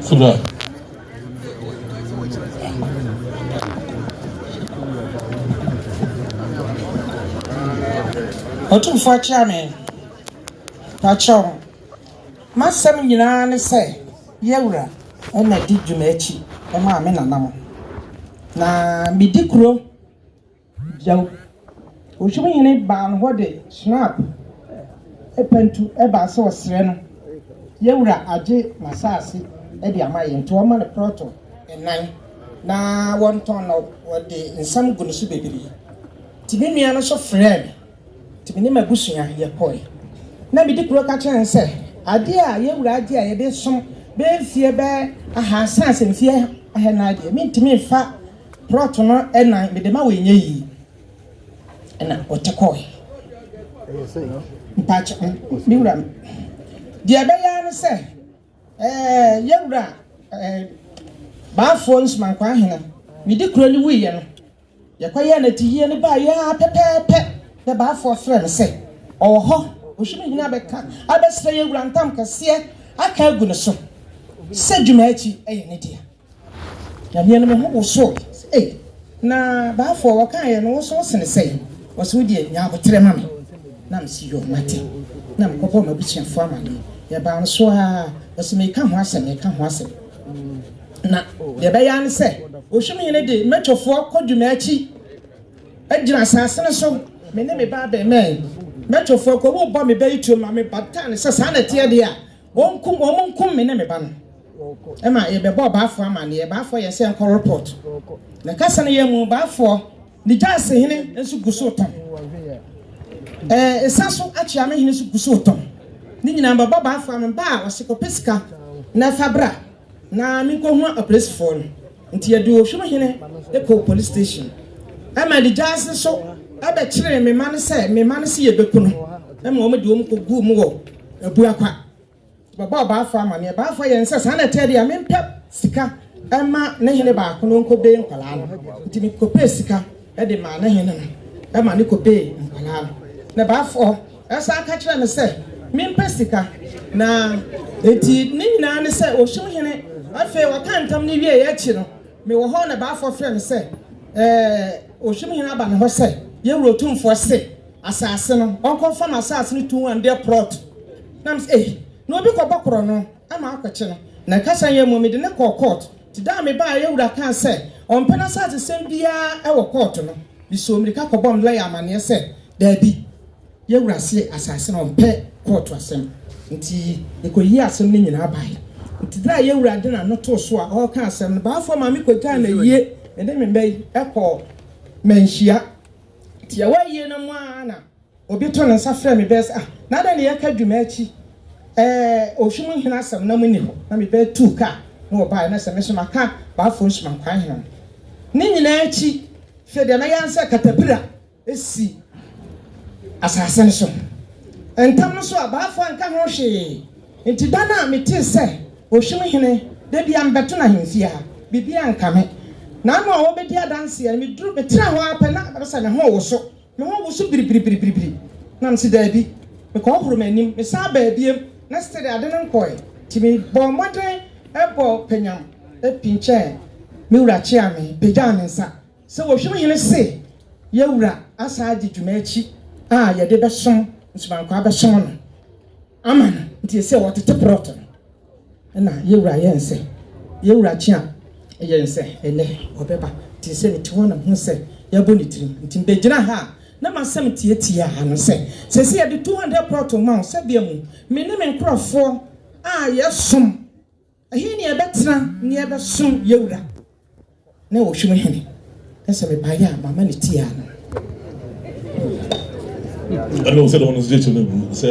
Kyerɛ. Otumfoɔ akyira me. Pakyɛw, m'asɛm nyinaa ne sɛ Yawura na di dwuma akyi ma me nana mo. Na medi kuro. Gyaw! Ohyem hene baa no hɔ de Schnapp pantu baa sɛ ɔsrɛ no, Yɛn wura agye n'asaase de ama yɛn, nti ɔmma no prɔto nnan na wɔntɔn na wɔde nsam gu no so bebree. Nti me nua no nso frɛɛ me, nti me ne m'abusua yɛkɔe. Na medi kuro ka kyerɛɛ no sɛ, Adeɛ a yɛn wura agye a yɛde som bɛyɛ mfeɛ bɛyɛ ahaasa ansa mfeɛ ahanan deɛ, mentumi mfa. Prɔt no nan mede ma wo ɛnyɛ yie ɛna ɔte kɔɔɛ. Mpakyɛ me wura deɛ ɛbɛyaa ne sɛ ɛɛ yɛ wura ɛɛ baafoɔ nsumankwaa hena me di kuro ne wuiɛ no yɛkɔ yɛ na tihie ne baa yɛ aa pɛpɛɛpɛ na baafoɔ frɛ me sɛ ɔwɔ hɔ ɔhwi me hena bɛka abɛsrɛ yɛ wura ntam kɛseɛ aka agu ne so sɛ dwuma akyi ɛyɛ ne deɛ. Nyame no me ho wosow se ei. Na baafoɔ wɔkaeɛ no wosow sene sɛn? Ɔse wodeɛ nya aboterɛ ma me na mese yoo mate na mekɔbɔɔ m'abusuafoɔ amaneɛ yɛbaa no so aa ɔse meka ho asɛm meka ho asɛm na deɛ ɛbɛyɛ ara ne sɛ Ohwimhene de mɛtwofoɔ kɔ Dwumaakyi agyina asaase no so me ne me ba abɛmɛn mɛtwofoɔ kɔ wobɔ me bɛyɛ tuo ma me bataa no sɛ saa na ɛteɛ deɛ a Wɔnkum, wɔnkum me ne me ba no. Ɛma yɛbɛbɔɔ Baafoɔ amanneɛ. Baafoɔ yɛɛ sɛ nkɔ report. Na kasa no yɛ mu, Baafoɔ ne Gyaase hene nso gu so retɔn. Ɛɛ Esa so Akyeame hene nso gu so retɔn. Ne nyinaa mbɛbɔ Baafoɔ ama ba a ɔse kɔpɛ sika na fa bra na menkɔhua apolisifoɔ no. Nti yɛde Ohwim hene kɔɔ police station. Ɛma de Gyaase nso ɛbɛkyeree me ma no sɛ me ma no se yɛbɛku no. Ɛma wɔn de wɔn kɔguu mu wɔ Abua kwa. Wɔbɛbɔ Abaafoɔ amanneɛ. Abaafoɔ yɛn sɛ, saa na ɛteɛ deɛ a, mempɛ sika mma ne hene baako na ɔnkɔbee nkwadaa no. Nti mekɔpɛɛ sika de maa ne hene no ma no kɔbee nkwadaa no. Na Abaafoɔ san ka kyerɛɛ me sɛ, mempɛ sika. Na enti ne nyinaa ne sɛ, ɔhyem hene. Afei wɔkaa ntam no wieeɛ akyi no, mewɔ hɔ na Abaafoɔ frɛɛ me sɛ, Ɛɛ, ɔhyem hene aba ne hɔ sɛ, Yɛwura Otumfoɔ se, Asase no ɔnkɔ fa no asase no tun andeɛ prɔt na me sɛ ei na obi kɔ bɔ korɔ no ama akɔ kye no na ɛka sɛ yɛ mmɔ me de no kɔɔ kɔɔt nti da a me baa yɛ wura kaa sɛ ɔmpɛ na asase sɛm biaa wɔ kɔɔt no me soo mirika kɔ bɔ me lɔya amaneɛ sɛ daabi yɛ wura se asase no ɔmpɛ kɔɔt asɛm nti me kɔ yii asɛm no nyinaa bae nti da a yɛ wura de na no too so a ɔɔka asɛm no baafoɔ ma me kɔ gyaa na yie me de me mba yi kɔɔ manhyia. Tiawa awie no mu ara na obi too ne nsa frɛɛ me bɛɛ sɛ, Ah, na adɛn na yɛreka dwuma akyi? Ɛɛ, Ɔhwe mu hene asɛm na monni hɔ? Na me bɛɛ tuu kaa na wɔbaeɛ, na sɛ me nso maka Baafoɔ nsumankwan hene no. Ne nyinaa akyi, hwɛ deɛ mɛyɛ ara ne sɛ katapira si asase no so. Ntam no nso a, Baafoɔ anka ho hwee, Enti da no a metee sɛ Ohwim Hene da biara mebɛto no ahemfie ha, biribiara anka me. N'ano a ɔrebɛdi adanseɛ no, meduru, metraa hɔ ara pɛ na ɛbɛba sɛ me ho rewoso. Me ho woso biribiribiribiri. Na mese, Daabi. Mekɔhohoro m'anim. Mesan baa biom, na still ade no nkɔɔe. Enti mebɔɔ mmɔden bɔɔ panyam pinkyɛɛ me wura Kyeame, pagyaa me nsa sɛ Ohwim Hene se yɛn wura asan adi dwuma akyi a yɛde bɛsom nsumankwa abɛsom no. Ama no, nti ɛsɛ wɔtete prɔt no. Ɛna yɛwura yɛ nsɛ, yɛwura kye a ɛyɛ nsɛ ɛnɛ ɔbɛba. Nti sɛ mete hɔ na mehu sɛ yɛabɔ ne tirim, nti mebɛgyina ha a na m'asɛm teatiaa no sɛ, Seesei yɛde 200 prɔt rema wo sɛ bia mu me ne me nkorɔfoɔ a yɛsom, ɛhe ne yɛbɛtena ne yɛbɛsom yɛwura na ɛwɔ hwim hene? Na sɛ mebaeɛ a mama no tiaa no. Ɛna ɔsɛ dɛ ɔno nso gye kyɛ no gu sɛ.